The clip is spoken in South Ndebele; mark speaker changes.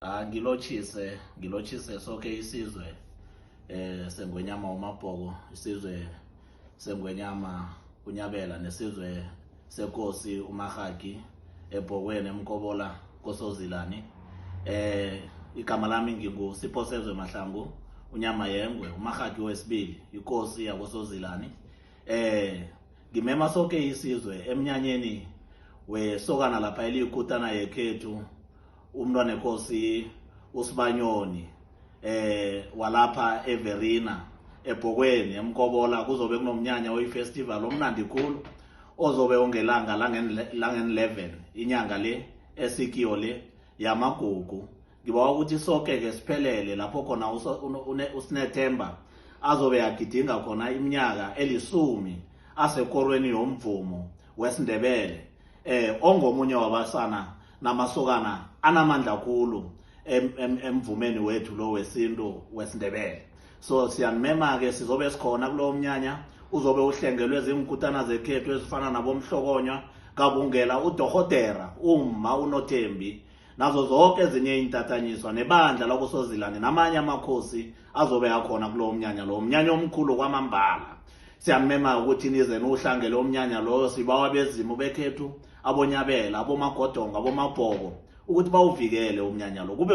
Speaker 1: ah, ngilotshise ngilotshise soke isizwe eh sengwenyama umabhoko isizwe sengwenyama unyabela nesizwe sekosi umahagi ebhokweni emkobola kosozilani eh igama lami ngingusiphosezo emahlangu unyama yengwe umahagi wesibili ikosi yakosozilani eh ngimema soke isizwe emnyanyeni wesokana lapha eliyikutana yekhethu umntwana ekosi usibanyoni eh walapha everina ebhokweni emkobola kuzobe kunomnyanya oyifestival omnandi khulu ozobe ungelanga langen-11 inyanga le esikiyo le yamagugu ngibawa ukuthi soke-ke siphelele lapho khona usinethemba azobe agidinga khona iminyaka elisumi asekorweni yomvumo wesindebele eh ongomunye wabasana namasokana anamandla khulu emvumeni wethu lo wesintu wesindebele so siyanimema-ke sizobe sikhona kulowo mnyanya uzobe uhlengelwe ziinkutana zekhethu ezifana nabomhlokonywa kabungela udohotera umma unothembi nazo zonke ezinye iintatanyiswa nebandla lakusozilane namanye amakhosi azobe akhona kulowo mnyanya lowo mnyanya omkhulu kwamambala siyamema ukuthi nize niwuhlangele umnyanya loyo sibawa bezimu bekhethu abonyabela abomagodongo abomabhoko ukuthi bawuvikele umnyanya lo kube